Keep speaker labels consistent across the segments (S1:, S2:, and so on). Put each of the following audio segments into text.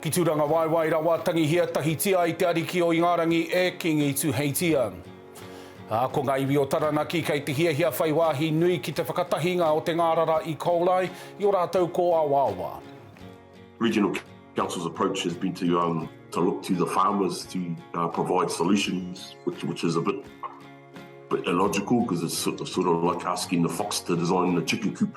S1: Ki Turangawaewae rawa, tangihia, tahitia ai te Ariki o Ingarangi e Kingi Tuheitia. Ā, ko ngā iwi o Taranaki kei te hiahia whai wāhi nui ki te whakatahinga o te ngārara i Kōlai, i ō rātou kōawaawa.
S2: Regional Council's approach has been to um to look to the farmers to uh, provide solutions, which which is a bit bit illogical because it's sort of, sort of like asking the fox to design the chicken coop.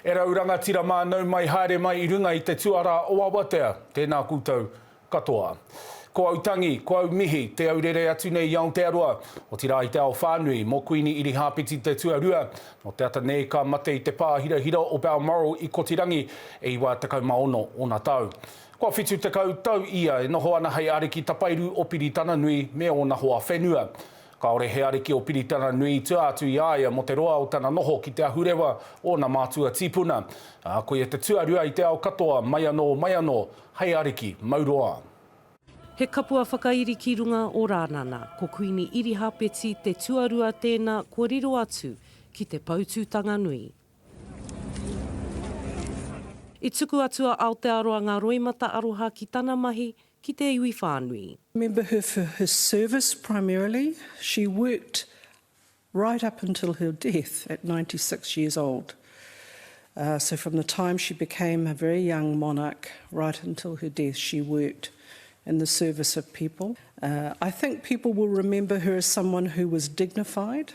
S1: E rau rangatira mānau mai haere mai i runga i te tuarā o Awatea, tēnā koutou katoa. Ko au tangi, ko au mihi, te au rere atu nei i Aotearoa, otirā i te ao whānui, mō Kuini Irihāpeti te tuarua, nō te ata nei ka mate i te pā hirahira o Balmoral i Kotirangi e 96 ōna tau. Kua 70 tau ia e noho ana hei ariki tapairu o Piritananui me ōna hoa whenua. Kāore he ariki o Piritananui i tua atu i a ia mō te roa o tana noho ki te ahurewa o ōna mātua tīpuna, ā, koia te tuarua i te ao katoa mai anō, mai anō, hei ariki, Mauroa. He
S3: kapua whakairi ki runga o Rānana, ko Kuini Irihāpeti te tuarua tēnā kua riro atu ki te Poutūtanga Nui. I tuku atu a Aotearoa ngā roimata aroha ki tana mahi ki te iwi whānui. remember her for
S4: her service primarily, she worked right up until her death at ninety six years old, so from the time she became a very young monarch right until her death she worked in the service of people. I think people will remember her as someone who was dignified,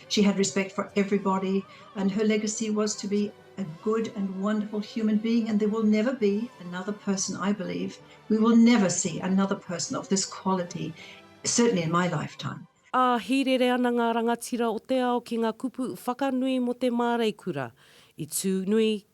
S5: She had respect for everybody and her legacy was to be a good and wonderful human being and there will never be another person I believe, we will never see another person of this quality, certainly in my lifetime. Ā, hīrere ana
S3: ngā rangatira o te ao ki ngā kupu whakanui mō te māreikura, i tū nui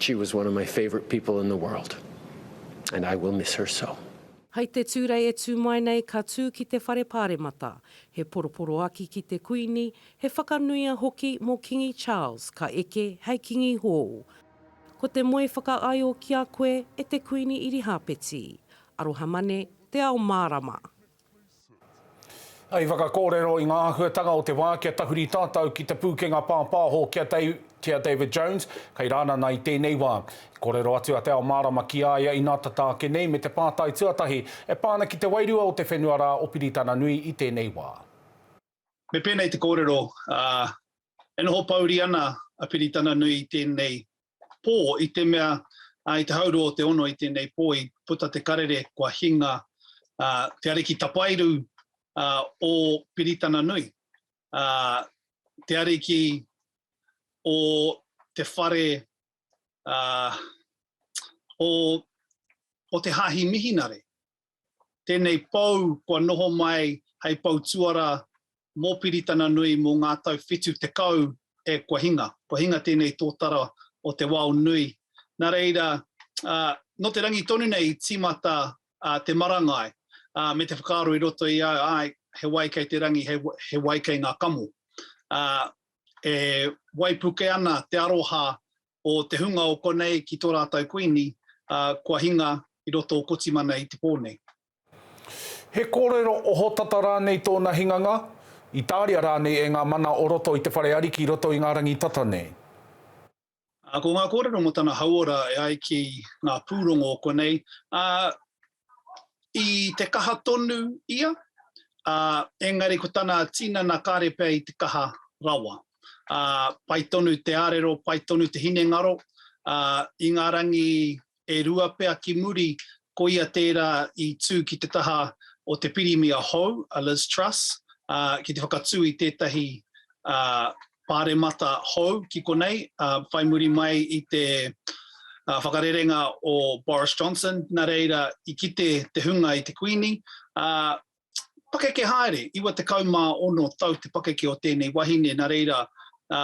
S6: She was one of my favourite people in the world and I will miss her so. Hai te Tūrei
S3: e tū mai nei ka tū ki te Whare Pāremata. He poroporoaki ki te Kuini, he whakanuia hoki mō Kingi Charles ka eke hei Kingi hōu. Ko te moe whakaaio ki a koe e te Kuini Irihāpeti. Aroha mane, Te Ao Mārama.
S1: Hei whakakōrero i ngā āhuatanga o te wā kia tahuri tātou ki te pūkenga pāpāho ki a Tia David Jones, kei Rānana i tēnei wā. I kōrero atu a Te Ao Mārama ki a ia inā tata ake nei me te pātai tuatahi e pā ana ki te wairua o te whenua rā o Piritana Nui i tēnei wā. Me
S7: pēnei te kōrero, ā, e noho pouri ana a Piritananui i tēnei pō, i te mea, ā, i te haurua o te ono i tēnei pō i puta te karere kua hinga, ā, te ariki tapairu, ā, o Piritananui, ā, te ariki o te whare, ā, o, o te Hāhi Mihinare. Tēnei pou kua noho mai hei pou tuarā mō Piritana Nui mō ngā tau whitu tekau e kua hinga. Kua hinga tēnei tōtara o te wao nui. Nā reira, nō te rangi tonu nei i tīmata te marangai me te whakaaro i roto i au, āe, he wai kei te rangi, he wai kei ngā kamo. E waipuke ana te aroha o te hunga o konei ki tō rātou Kuini, ā, kua hinga i roto o Kotimana i te pō nei.
S1: He kōrero ohotata rānei tōna hinganga? I tāria rānei e ngā mana o roto i te whare ariki roto i ngā rangi tata nei? Ā,
S7: ko ngā kōrero mō tana hauora e ai ki ngā pūrongo o konei, ā, i te kaha tonu ia, ā, engari ko tana tinana kāre pea i te kaha rawa. Ā, pai tonu te ārero, pai tonu te hinengaro, ā, i ngā rangi e rua pea ki muri, koia tērā i tū ki te taha o te Pirimia hou, a Liz Truss, ā, ki te whakatū i tētahi, ā, Pāremata hou ki konei, whai muri mai i te whakarerenga o Boris Johnson, nā reira i kite te hunga i te Kuini, ā, pakeke haere, 96 tau te pakeke o tēnei wahine, nā reira, ā,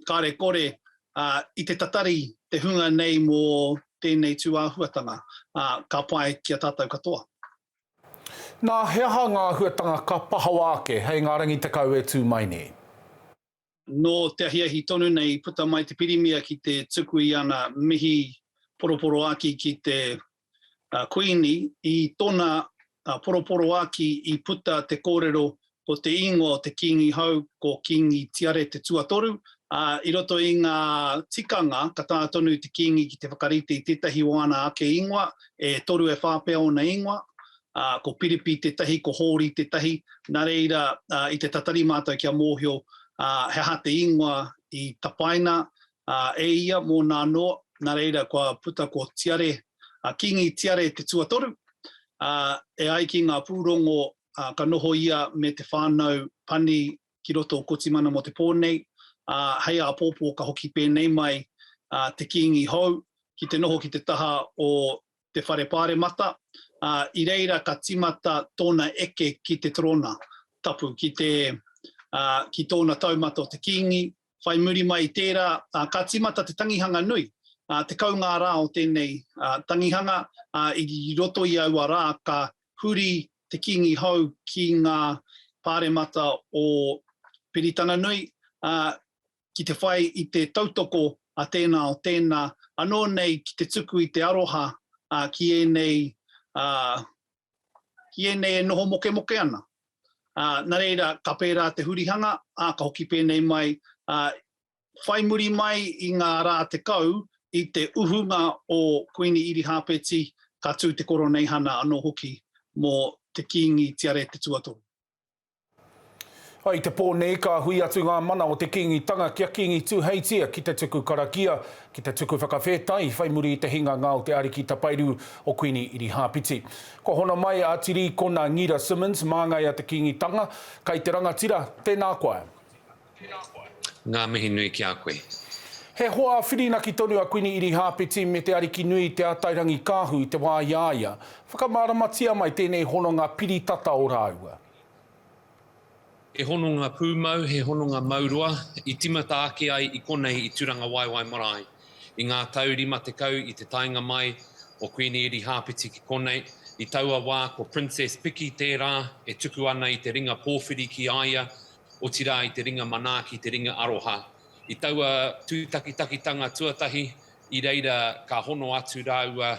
S7: kāre kore, ā, i te tatari te hunga nei mō tēnei tūāhuatanga, ā, ka pai ki a tātou katoa.
S1: Nā, he aha ngā āhuatanga ka pahawa ake hei ngā rangi tekau e tū mai nei? Nō
S7: te ahiahi tonu nei i puta mai te Pirimia ki te tuku i ana mihi poroporoāki ki te Kuini. I tōna poroporoāki i puta te kōrero Ko te ingoa o te Kīngi hou ko Kīngi Tiare te Tuatoru, ā, i roto i ngā tikanga ka taea tonu te Kīngi ki te whakarite i tētahi o ana ake ingoa, e toru e whā pea ōna ingoa, ā, ko Piripi tētahi, ko Hōri tētahi, nā reira, i te tatari mātou kia mōhio he aha te ingoa i tapaina e ia mōna anō, nā reira kua puta ko Tiare, Kīngi Tiare te Tuatoru, ā, e ai ki ngā pūrongo ā, ka noho ia me te whānau pani ki roto o Kotimana mō te pō nei, ā, hei āpōpō ka hoki pēnei mai a te Kīngi hou ki te noho ki te taha o te Whare Pāremata, ā, i reira ka tīmata tōna eke ki te Torōna Tapu ki te, ā, ki tōna taumata o te Kīngi, Whai muri mai i tērā, ka tīmata te tangihanga nui, tekau ngā rā o tēnei tangihanga, ā, i roto i aua rā ka huri te Kīngi hou ki ngā pāremata o Piritananui, ā, ki te whai i te tautoko a tēnā o tēnā, anō nei ki te tuku i te aroha ki ēnei ki ēnei e noho mokemoke ana. Ā, nā reira, ka pērā te hurihanga, ā, ka hoki pēnei mai, ā, whai muri mai i ngā rā tekau i te uhunga o Kuini Irihāpeti, ka tū te Koroneihana anō hoki mō te Kīngi Tiare Te Tuatoru. I
S1: te pō nei ka hui atu ngā mana o te Kīngitanga ki a Kīngi Tūheitia ki te tuku karakia, ki te tuku whakawhētai whai muri i te hinganga o te ariki tapairu o Kuini Irihāpiti. Kua hono mai a Tirīkona Ngita Simmons, māngai a te Kīngitanga, kai te rangatira, tēnā koe.
S8: Ngā mihi nui ki a koe. He hoa
S1: whirinaki tonu a Kuini Irihāpeti me Te Arikinui Te Atairangikaahu i te wā i a ia. Whakamāramatia mai tēnei hononga piri tata o rāua.
S8: He hononga pūmau, he hononga mauroa, i tīmata ake ai i konei i Tūrangawaewae marae. I ngā tau rima tekau i te taenga mai o Kuini Irihāpeti ki konei, i taua wā ko Princess Piki tērā e tuku ana i te ringa pōwhiri ki a ia, otirā i te ringa manaaki, te ringa aroha. I taua tūtakitakitanga tuatahi, i reira ka hono atu rāua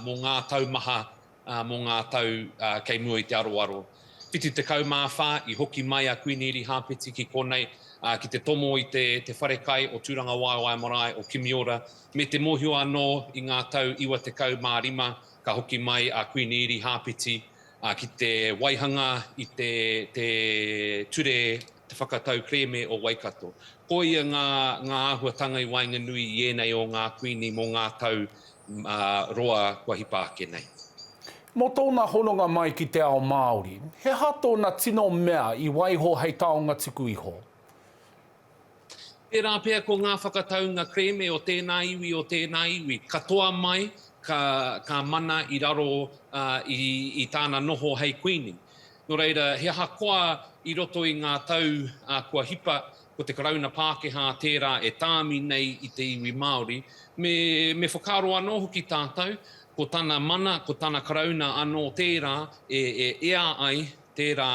S8: mō ngā tau maha, mō ngā tau kei mua i te aroaro. 74 i hoki mai a Kuini Irihāpeti ki konei, ki te tomo i te wharekai o Tūrangawaewae marae o Kimiora, me te mōhio anō i ngā tau 95 ka hoki mai a Kuini Irihāpeti ā, ki te waihanga i te ture Te Whakatau Kerēme o Waikato. Ko ia ngā āhuatanga i waenganui i ēnei o ngā Kuini mō ngā tau roa kua hipa ake nei. Mō tōna
S1: hononga mai ki te ao Māori, he aha tōna tino mea i waiho hei taonga tuku iho?
S8: Tērā pea ko ngā whakataunga kerēme o tēnā iwi, o tēnā iwi, katoa mai ka, ka mana i raro ā, i, i tāna noho hei Kuini. Nō reira, he aha koa i roto i ngā tau ā, kua hipa, ko te Karauna Pākehā tērā e tāmi nei i te iwi Māori, me, me whakaaro anō hoki tātou, ko tana mana, ko tana Karauna anō tērā e, e ea ai tērā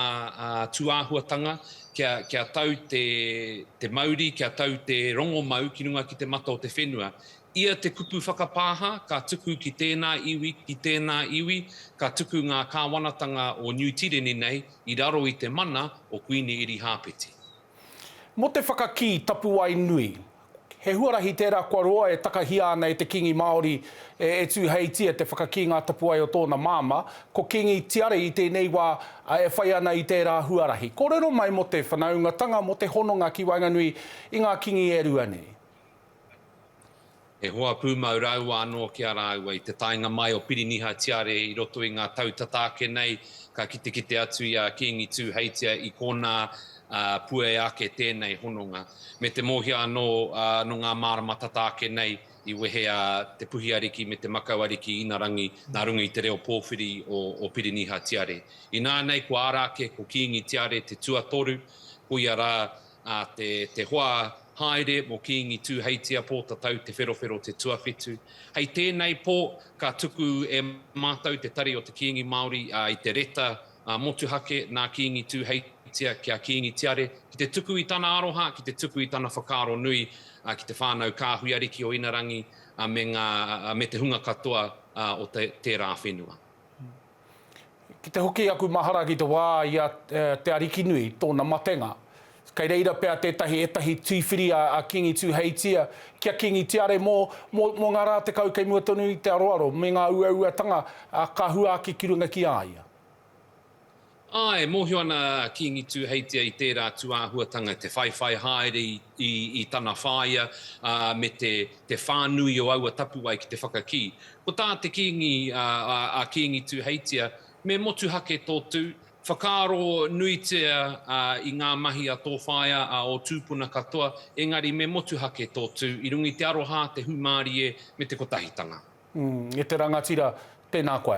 S8: tūāhuatanga kia tau te mauri, kia tau te rongomau ki runga ki te mata o te whenua. Ia te kupu whakapāha ka tuku ki tēnā iwi, ki tēnā iwi, ka tuku ngā kāwanatanga o Niu Tireni nei i raro i te mana o Kuini Erihāpeti. Mō
S1: te whakakī tapuwae nui, he huarahi tērā kua roa e takahia ana e te Kīngi Māori e Tūheitia te whakakī ngā tapuwae o tōna māmā, ko Kīngi Tiare i tēnei wā e whai ana i tērā huarahi. Kōrero mai mō te whanaungatanga, mō te hononga ki waenganui i ngā Kīngi e rua nei.
S8: He hoa pūmau rāua anō ki a rāua. I te taenga mai o Piriniha Tiare i roto i ngā tau tata ake nei, ka kitekite atu i a Kīngi Tūheitia i kōnā ā, puea ake tēnei hononga. Me te mōhia anō ā, nō ngā mārama tata ake nei i wehe a Te Puhi Ariki me Te Makau Ariki Inarangi nā runga i te reo pōwhiri o, o Piriniha Tiare. Inānei ko Arāke, ko Kīngi Tiare te tuatoru, ko ia rā ā, te hoa haere mō Kīngi Tūheitia Pōtatau Te Wherowhero te tuawhitu. Hei tēnei pō, ka tuku e mātou te tari o te Kīngi Māori i te reta motuhake nā Kīngi Tūheitia ki a Kīngi Tiare, ki te tuku i tana aroha, ki te tuku i tana whakaaro nui ki te whānau kāhui ariki o Inarangi me te hunga katoa o tērā whenua.
S1: Ki te hoki aku mahara ki te wā i a Te Arikinui, tōna matenga. Kei reira pea tētahi ētahi tīwhiri a Kīngi Tūheitia ki a Kīngi Tiare mō, mō, mō ngā rā tekau kei mua tonu i te aroaro me ngā uauatanga ka huaki ki runga ki a ia.
S8: Āe, mōhio ana a Kīngi Tūheitia i tērā tūāhuatanga te whaiwhai haere i i tana whāia, ā, me te, te whānui o aua tapuwae ki te whakakī. Ko tā te Kīngi, ā, a, a Kīngi Tūheitia, Me motuhake tō tū, whakaaro nuitia, ā, i ngā mahi a tō whaea, a ō tūpuna katoa, engari me motuhake tō tū, i runga i te aroha, te hūmārie, me te kotahitanga. Umm, e te
S1: rangatira, tēnā koe.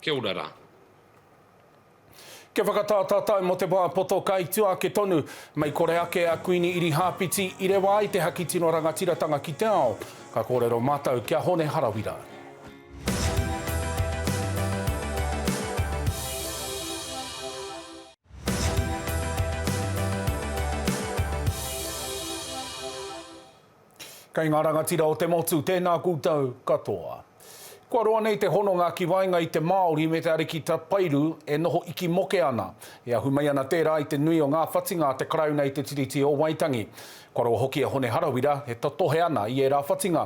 S8: Kia ora rā.
S1: Kia whakatā tātou mō te wā poto kai tua ake tonu, mei kore ake a Kuini Irihāpiti i rewa ai te haki tino rangatiratanga ki te ao. Ka kōrero mātou ki a Hone Harawira. Kei ngā rangatira o te motu, tēnā koutou katoa. Kua roa nei te hononga ki waenga i te Māori me te ariki tapairu e noho iki moke ana. E ahu mai ana tērā i te nui o ngā whatinga a te Karauna i te Tiriti o Waitangi. Kua roa hoki a Hone Harawira e totohe ana i ērā whatinga.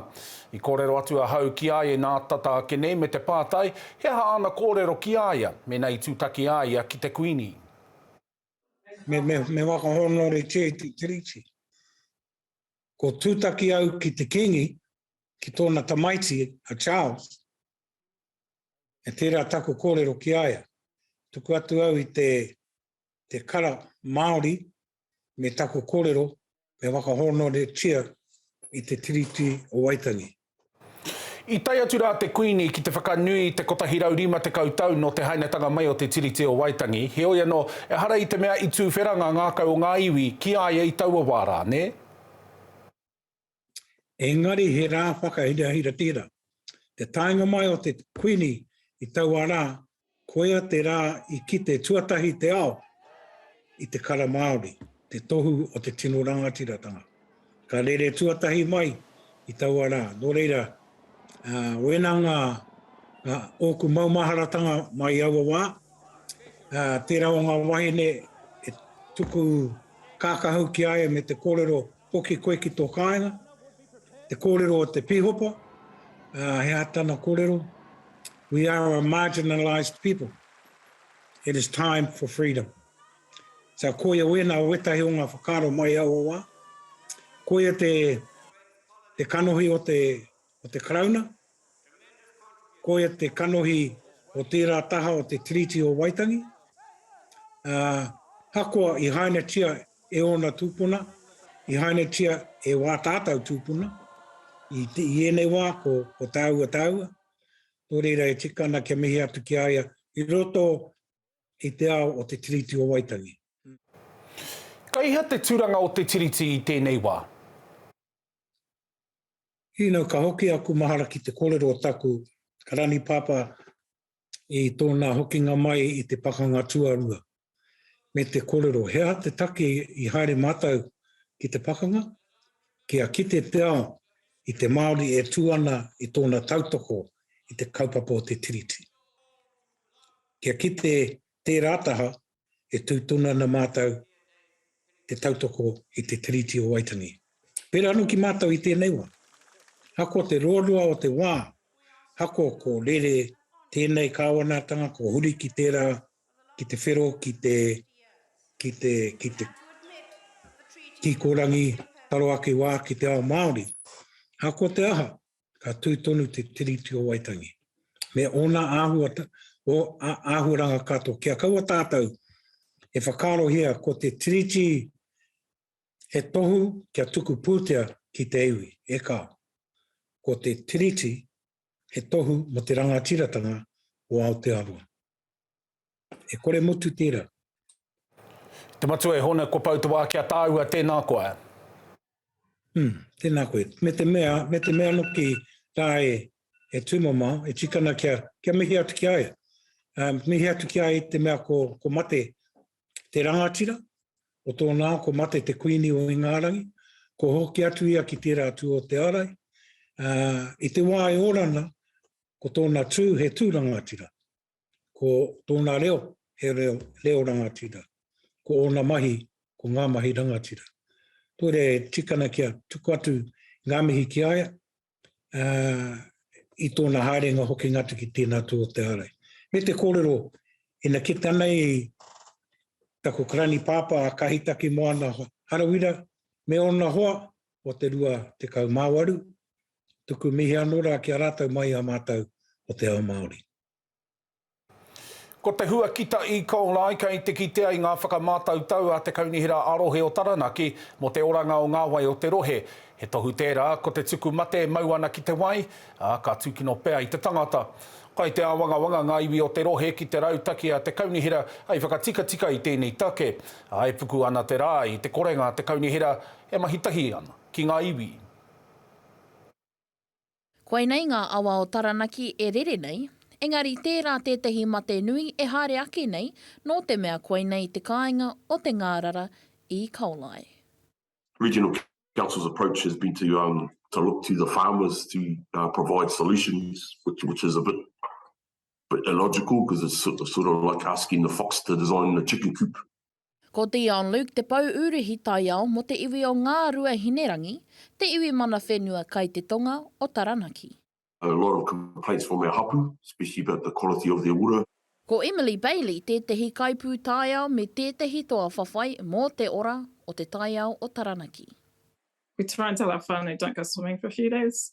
S1: I kōrero atu ahau ki a ia nā tata ake nei me te pātai he aha āna kōrero ki a ia mēnā i tūtaki a ia ki te Kuini. Me
S9: whakahōnore kē te Tiriti. Ko tūtaki au ki te Kīngi, ki tōna tamaiti a Charles, e tērā taku kōrero ki a ia. Tuku atu au i te, te kara Māori me taku kōrero me whakahōnoretia i te Tiriti o Waitangi.
S1: I tae atu rā te Kuini ki te whakanui i te 150 tau nō te hainatanga mai o te Tiriti o Waitangi, heoi anō, ehara i te mea i tūwhera ngā ngākau o ngā iwi ki a ia i taua wā rā, nē?
S9: Engari he rā whakahirahira tērā. Te taenga mai o te Kuini i taua rā Koia te rā i kite tuatahi te ao i te kara Māori, te tohu o te tino rangatiratanga. Ka rere tuatahi mai i taua rā, nō reira, wēnā ngā ōku maumaharatanga mai i aua wā, tērā o ngā wahine e tuku kākahu ki a ia me te kōrero Hoki koe ki tō kāinga, te kōrero o te pīhopa, ā, he aha tana kōrero? We are a marginalised people. It is time for freedom. Ā, koia wēnā o wētahi o ngā whakaaro mai i aua wā. Koia te, te kanohi o te o te Karauna, koia te kanohi o tērā taha o te Tiriti o Waitangi, ā, ahakoa i hainatia e ōna tūpuna, i hainatia e wā tātau tūpuna, i, te, i ēnei wā ko, ko tāua tāua, nō reira e tika ana kia mihi atu ki a ia i roto i te ao o te Tiriti o Waitangi.
S1: Kei hea te turanga o te Tiriti i tēnei wā?
S9: You know, ka hoki aku mahara ki te korero o taku rani papa i tona hokinga mai i te pakanga tuarua, me te korero, he aha te take i haere matou ki te pakanga? Kia kite te ao i te Maori e tu ana i tona tautoko i te kaupapa o te Tiriti. Kia kite tera taha e tū tonu ana mātou te tautoko i te Tiriti o Waitangi. Pērā anō ki mātou i tēnei wā, ahakoa te ruarua o te wā, ahakoa ko rere tēnei kāwanatanga kua huri ki tērā, ki te whero, ki te, ki te, ki te kikorangi taro ake wā ki te ao Māori, ahakoa te aha, ka tū tonu te Tiriti o Waitangi, me ōna āhua, o, a, āhuaranga katoa. Kia kaua tātou e whakaarohia ko te Tiriti he tohu kia tuku pūtea ki te iwi, e kā. Ko te Tiriti he tohu mo te rangatiratanga o Aotearoa. E kore motu tērā.
S1: Te Matua e Hona, kua pau te wā ki a tāua, tēnā koa. Hmm,
S9: tēnā koe. Me te mea, me te mea noki tā e, e tūmamao, e tikana kia, kia mihi atu ki a ia. Um, mihi atu ki a ia te mea ko, ko mate te rangatira, o tōna ko mate te kuini o Ingārangi, ko hoki atu ia ki tērā tū o te arai. Uh, I te wā e orana, ko tōna tū he tū rangatira. ko tōna reo, he reo, reo rangatira. Ko ōna mahi, ko ngā mahi rangatira. Kore tikana kia tuku atu ngā mihi ki aia, uh, i tōna haerenga hoki ngatu ki tēnā tū o te ārai. Me te kōrero, ina ki tanei taku karani pāpā a Kahitaki Moana Harawira, me ōna hoa o te rua te kaumawaru, tuku mihi anō rā ki a rātou mai a mātou o te ao Māori.
S1: Ko te hua ki ta E-Coli kei te kitea i ngā whakamātautau a te Kaunihera ā-Rohe o Taranaki mō te oranga o ngā wai o te rohe. He tohu tērā, ko te tuku mate e mau ana ki te wai, ā, ka tūkino pea i te tangata. Kai te āwangawanga ngā iwi o te rohe ki te rautaki a te Kaunihera hei whakatikatika i tēnei take, ā, e puku ana te rā i te korenga a te Kaunihera e mahi tahi ana ki ngā iwi.
S10: Koinei ngā awa o Taranaki e rere nei, engari tērā tētahi mate nui e haere ake nei nō te mea koinei te kāinga o te ngārara i Kaolai.
S2: Regional Council's approach has been to um to look to the farmers to uh, provide solutions, which which is a bit bit illogical because it's sort of, sort of like asking the fox to design the chicken coop. Ko Dion
S10: Luke te pou ūrihi taiao mō te iwi o Ngāruahinerangi, te iwi mana whenua kai te tonga o Taranaki.
S2: A lot of
S10: complaints
S2: from our hapu, especially about the
S10: quality
S2: of their ura. Ko
S10: Emily Bailey tētehi kaipūtaiao me tētehi toa whawhai mō te ora o te taiao o Taranaki. We try
S11: and tell our whānau don't go swimming for a few days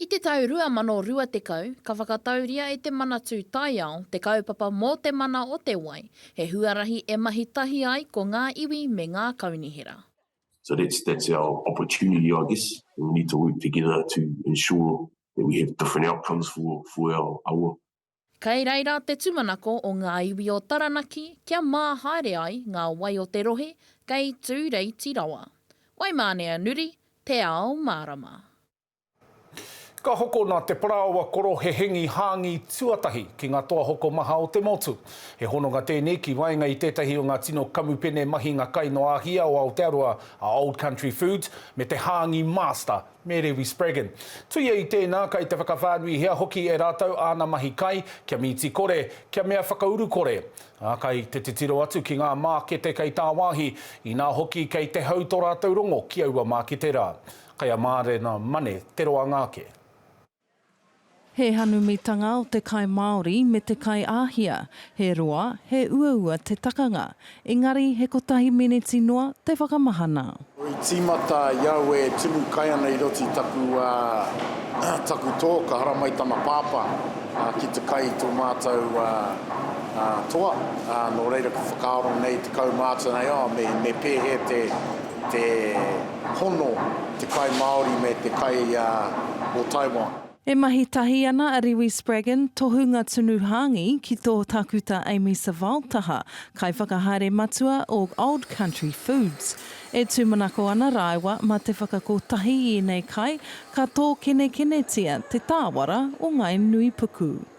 S2: I te tau
S10: 2020, ka whakatauria e Te Manatū Taiao te kaupapa Mō Te Mana o Te Wai, he huarahi e mahi tahi ai ko ngā iwi me ngā kaunihera. So that's
S2: that's our opportunity I guess and we need to work together to ensure that we have different outcomes for for our awa. Kei reira
S10: te tumanako o ngā iwi o Taranaki kia mā haere ai ngā wai o te rohe kei tūreiti rawa. Waimāne a Nuri, Te Ao Mārama.
S1: Ka hokona te parāoa koro he hengi hāngī tuatahi ki ngā toa hokomaha o te motu. He hononga tēnei ki waenga i tētahi o ngā tino kamupene mahinga kai noa a hia o Aotearoa, a Old Country Foods, me te hāngī Master, me Rewi Spraggon. Tuia i tēnā, kai te whakawhānuihia hoki e rātou āna mahi kai, kia mīti kore, kia mea whakauru kore, ā, kai te titiro atu ki ngā mākete kei tāwāhi, inā hoki kei te hau tō rātou rongo ki aua mākete rā. Kei a Mārena Mane te roanga ake.
S12: He hanumitanga o te kai Māori me te kai Āhia. He roa, he uaua te takanga. Engari, he kotahi miniti noa te whakamahana. I tīmata
S13: i au e timu kai ana i roto i taku taku tō ka haramai tana pāpā ki te kai i tō mātou toa nō reira ka whakaaro nei tekau mātou nei oh me pēhea te hono te kai Māori me te kai o Taiwan. E mahi tahi
S12: ana a Rewi Spraggon, Tohunga Tunu Hāngi, ki tō Tākuta Amy Savile taha, Kaiwhakahaere Matua o Old Country Foods. E tūmanako ana rāua mā te whakakotahi i ēnei kai, ka tōkenekenetia te tāwara o ngāi nuipuku.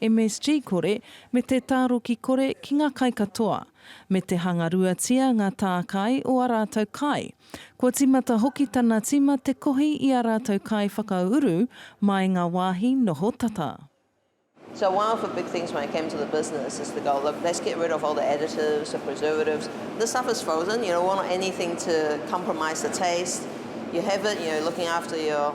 S12: MSG kore, me te tāroki kore ki ngā kai katoa, me te hangaruatia ngā tākai o ā rātou kai. Kua tīmata hoki tana tīma te kohi i ā rātou kai whakauru mā i ngā wāhi noho tata. So
S14: one of the big things when I came to the business is to go, look, let's get rid of all the additives, the preservatives. This stuff is frozen, you don't want anything to compromise the taste. You have it, you're looking after your.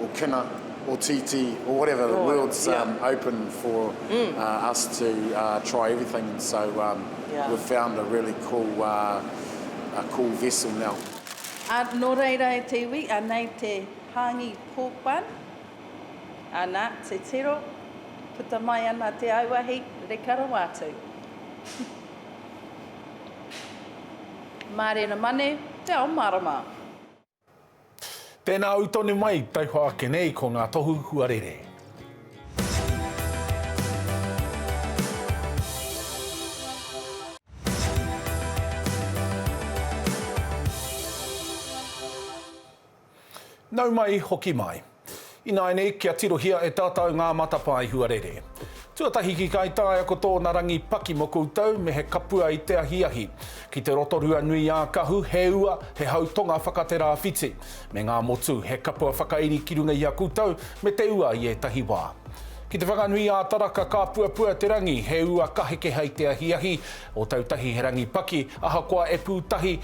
S13: or kina or tītī or whatever the world's open for us to try everything and so we've found a really cool vessel now. Nō
S15: reira e te iwi, anei te hāngi pork bun, ana, te tiro, puta mai ana te auahi, reka rawa atu. Mārena mane, te ao mārama.
S1: Tēnā au tonu mai, tauhoa ake nei ko ngā tohu huarere. Nau mai, hoki mai. Ināianei, kia tirohia e tātou ngā matapae huarere. Tuatahi ki Kaitaia ko tōna rangi paki mō koutou me he kapua i te ahiahi. Ki te Rotorua nui ā Kahu, he ua, he hau tonga whakaterāwhiti. Me ngā motu, he kapua whakairi ki runga i a koutou me te ua i ētahi wā. Ki Te Whanganui ā Taraka ka puapua te rangi, he ua ka heke hei te ahiahi. Ōtautahi he rangi paki, ahakoa e pū tahi,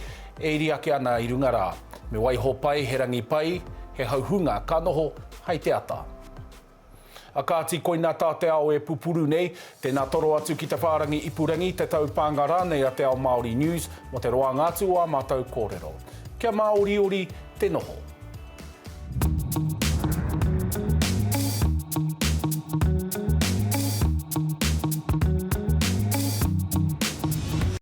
S1: E iri ake ana i runga rā. Me waiho pai, he rangi pai, he hauhunga ka noho hai te ata. A kāti koina tā te ao e pupuru nei. Tēnā toro atu ki te whārangi ipurangi, te taupānga rānei a Te Ao Māori News mō te roanga atu o ā mātou kōrero. Kia māoriori te noho.